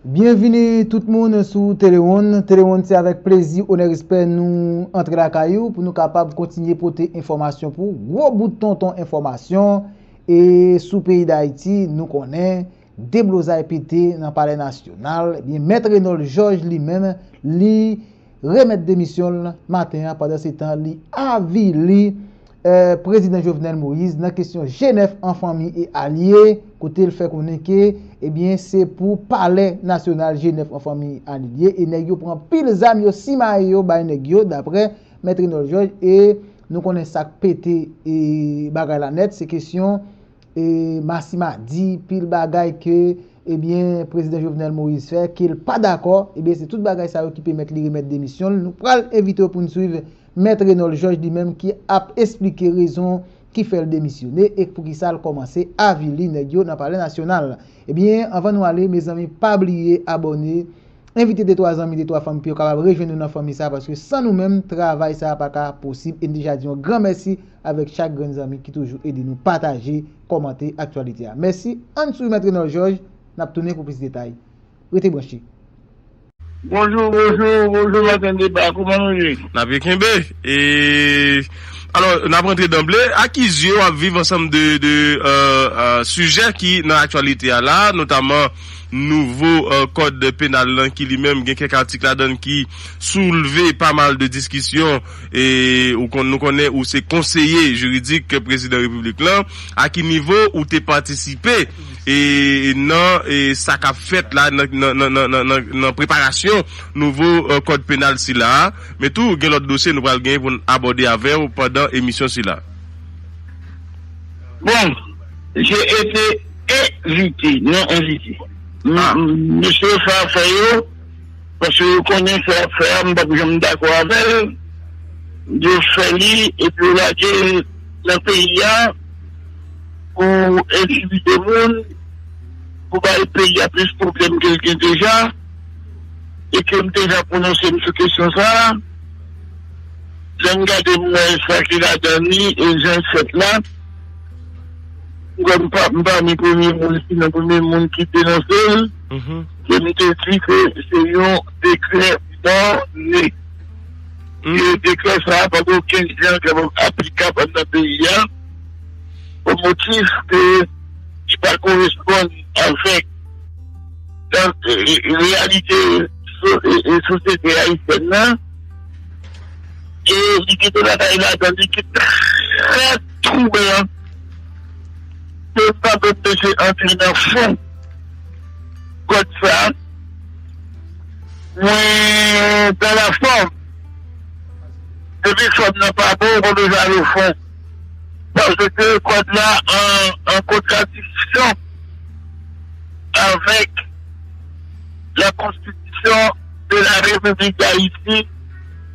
Byenvini tout moun sou Telewonn. Telewonn se avèk plezi, onè, respè nou antre lakay ou pou nou kapab kontinye pote enfòmasyon pou ou. Gwo bout tonton enfòmasyon e sou peyi Dayiti nou konnen deblozay pete nan palè nasyonal ebyen mèt Renold Georges li menm li remèt demisyon l maten an pandan se tan li avili prezidan Jovenel Moïse nan kesyon Jenèf an fanmi e alye kote l fè konnen ke ebyen se pou palè nasyonal Jenèf an fanmi e alye l ye e nèg yo pran pil zam yo simaye yo bay nèg yo daprè mèt Renol Jòj e nou konnen sa k pete bagay la nèt se kesyon Massima di pil bagay ke ebyen Prezidan Jovenel Moïse fè ke l pa dakò, ebyen se tout bagay sa yo ki pemèt li remèt demisyon l. Nou pral envite w pou n swiv Mèt Renòl Jòj li menm ki ap esplike rezon ki fè l demisyone e poukisa l kòmanse avili nèg yo nan Palè Nasyonal. Ebyen anvan nou ale mezanmi pa bliye abòne. Envite de twa zanmi, de twa fanmi pou yo kapab rejwenn nou nan fanmi sa a paske san nou menm travay sa a pa ka posib e n deja di yon gran mèsi avèk chak grenn zanmi ki toujou ede nou pataje, kòmante aktyalite a. Mèsi, ann swiv Mèt Renòl Jòj, n ap tounen pou plis detay. Rete branche. Bonjou bonjou bonjou maten deba kouman nou ye. N ap byen kenbe e alò n ap rantre danble a ki zye w ap viv ansanm de sijè ki nan aktyalite a la notaman. nouvo kòd penal lan ki li menm gen kèk atik ladan l ki soulve pa mal de diskisyon e nou konnen ou se konseye jiridik prezidan repiblik lan, a ki nivo ou te patisipe e nan e sa k ap fèt la nan preparasyon nouvo kòd penal sila a, men tou gen lòt dosye nou pral genyen pou n abòde avè w pandan emisyon sila. Bon! Je ete envite non envite. Mesye yo sa fè yo paske yo konnen sa yap fè a m pap janm dakò avèl yo fè li epi yo lagel nan peyi a pou entimide moun pou bay peyi a plis pwoblèm kel gen deja e kem deja pwononsem sou kesyon sa lèm gade m wè sa ki ladan li e janl fèt la. Mwen m pami premye moun si nan premye moun ki denonse l, ke m te di ke se yon dekrè mòne. Ke dekrè sa pa gen okenn jan ke l aplikab anndan peyi a, o motif ke li pa koresponn avèk reyalite sosyete ayisyèn nan, e li gen de bagay ladan li ki trè. twoublan ke m pa menm mete antre nan fon kòd sa a. Mwen dan la fòm, depi fòm nan pa bon ou pa bezwen al o fon paske kòd la an kontradiksyon avèk la konstitisyon de la Repiblik Dayiti.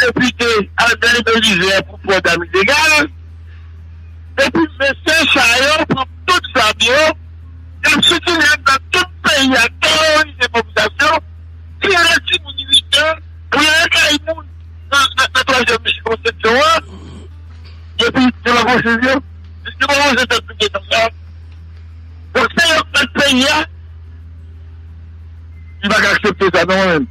Depite Albert Belizaire pou Port Damidegal, Depi mesye sa yo pran tout zam yo, yap sikile anndan tout peyi a teworize popilasyon, tire timoun 8 an pou yo al kay moun nan twazyèm sikonskripsyon an, epi yo pa pran swiv yo, yo pa pran zantèt nou gentan la. Donk se yo k mèt peyi a. M pa ka aksepte sa non mwen menm.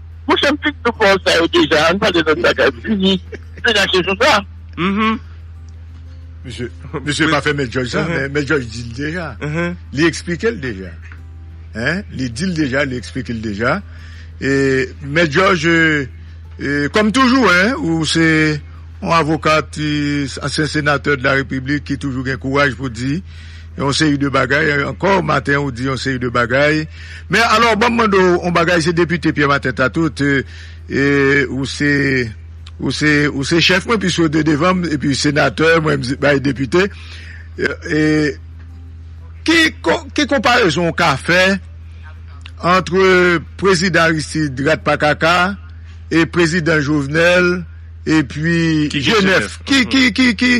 Monchè m fin tande pawòl sa yo deja an pale lòt bagay fini fini ak jesús la. Misye pa fè mèt jòj sa men mèt jòj dil deja li eksplikel deja li dil deja li eksplikel deja mèt jòj kòm toujou ou se yon avokat ansyen senatè de la repiblik ki toujou gen kouraj pou di Yon seri de bagay ankò maten ou di yon seri de bagay men alò banm mande w on bagay se depite Pierre Martin ta tout ou se ou se ou se chèf mwen pwiske w te devan m epi senatè mwen m bay depite e ki ki konparezon w ka fè antre prezidan Aristide rat pa kaka e prezidan Jovenel epi G9 ki ki ki ki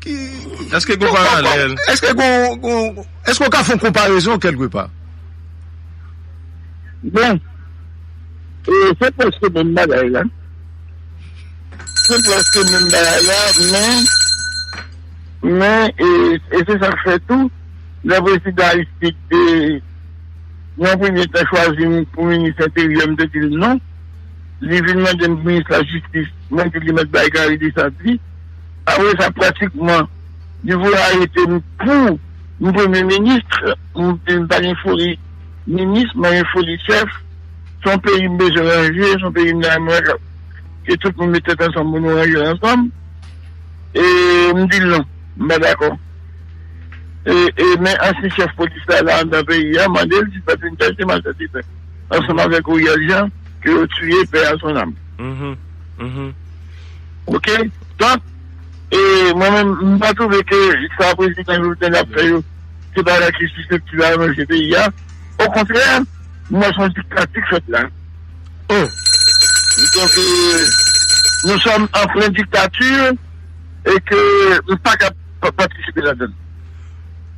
Eske gen paralèl? Eske gen, eske ou ka fè yon konparezon kèlke pa? Bon, se prèske menm bagay la. Se prèske menm bagay la, men, men, e se sa k fè tou, lè Prezidan Aristide te, nan yon premye tan, chwazi m pou Minis Enteryè, m te di l non. Li vin mande m pou Minis Lajistis, mwen di l li mèt bay Gary Dessalines li. Apre sa pratikman li vle arete m pou m premye ministre, m pa gen foli minis mwen gen foli chèf, se yon peyi m bezwen ranje, se yon peyi m ta renmen ke tout moun met tèt ansanm pou nou ranje l ansanm e m di l non m pa dakò e men ansyen chèf polis la la anndan peyi a mande l si l pa t vin chache Marcel Défunt ansanm avèk Oriel Jean ke yo tiye paix à son âme. Ok donk e mwen menm m pa twouve ke sa prezidan Jovenel ap fè yo se bagay ki siseptib a ranje peyi a okontrè m wè son diktatik fèt la donk e nou sòm an plen diktati e ke m pa ka pa patisipe la donn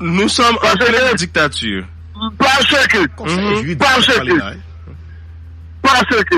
nou sòm an plen diktati paske paske paske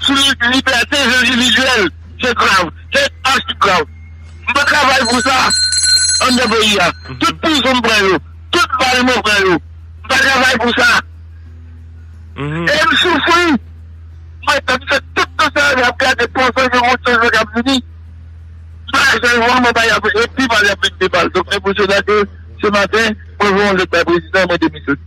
sou libète endividyèl se grav, se achi grav. M pa travay pou sa anndan peyi a. Tout prizon m pran yo, tout bal mwen pran yo, m pa travay pou sa. E m soufri. Mwen t ap fè tout tan sa a, ap gade panse gen yon chanjman k ap vini. Sa a chanjman mwen bay ap epi pale ap vin de mal. Donk se pou sela ke se maten mwen voye yon lèt bay prezidan e mwen demisyone.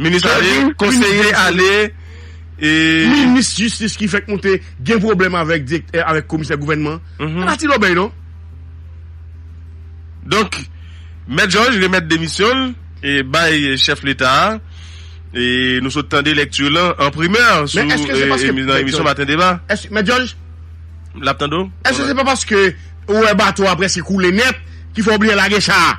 Minis ale, konseye ale, e. Minis jistis ki fèk moute gen pwoblèm avèk direktè, avèk komisè gouvènman an. Se pa ti lòbèy non. Donk, Mèt Jòj remèt demisyon l e bay chèf leta a. E nou sot tande lèkti l lan an primè sou nan emisyon Maten Deba. Mèt Jòj? M ap tande w. Èske se pa paske ou wè bato a prèske koule nèt ki fè w bliye lage cha a?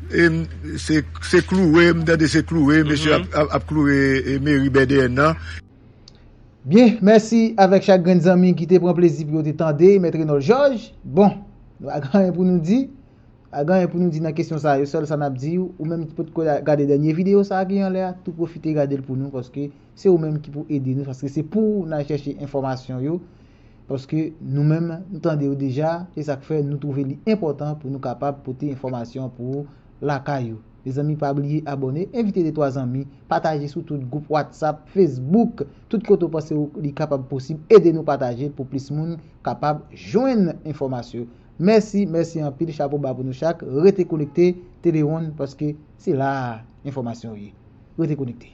Se kloure m tande se kloure mesye ap kloure meri bèdèyèn nan. Byen, mèsi avèk chak grenn zanmi ki te pran plezi pou yo te tande Mèt Renòl Jòj. Bon, nou pa gen anyen pou nou di, pa gen anyen pou nou di nan kesyon sa yo, sèl sa n ap di ou, ou menm ki potko gade dènye videyo sa ki anlè a, tou pwofite gade l pou nou paske se ou menm ki pou ede nou paske se pou ou n al chèche enfòmasyon yo. Paske nou menm nou tande yo deja, e sak fè nou twouve li enpòtan pou nou kapab pote enfòmasyon an pou ou lakay ou. Mezanmi pa bliye abòne, envite de twa zanmi, pataje sou tout gwoup watsap, fesbouk, tout kote ou panse ou li kapab posib ede nou pataje l pou plis moun kapab jwenn enfòmasyon. Mèsi, mèsi anpil chapo ba pou nou chak, rete konekte Telewonn paske se la a enfòmasyon yo ye. Rete konekte.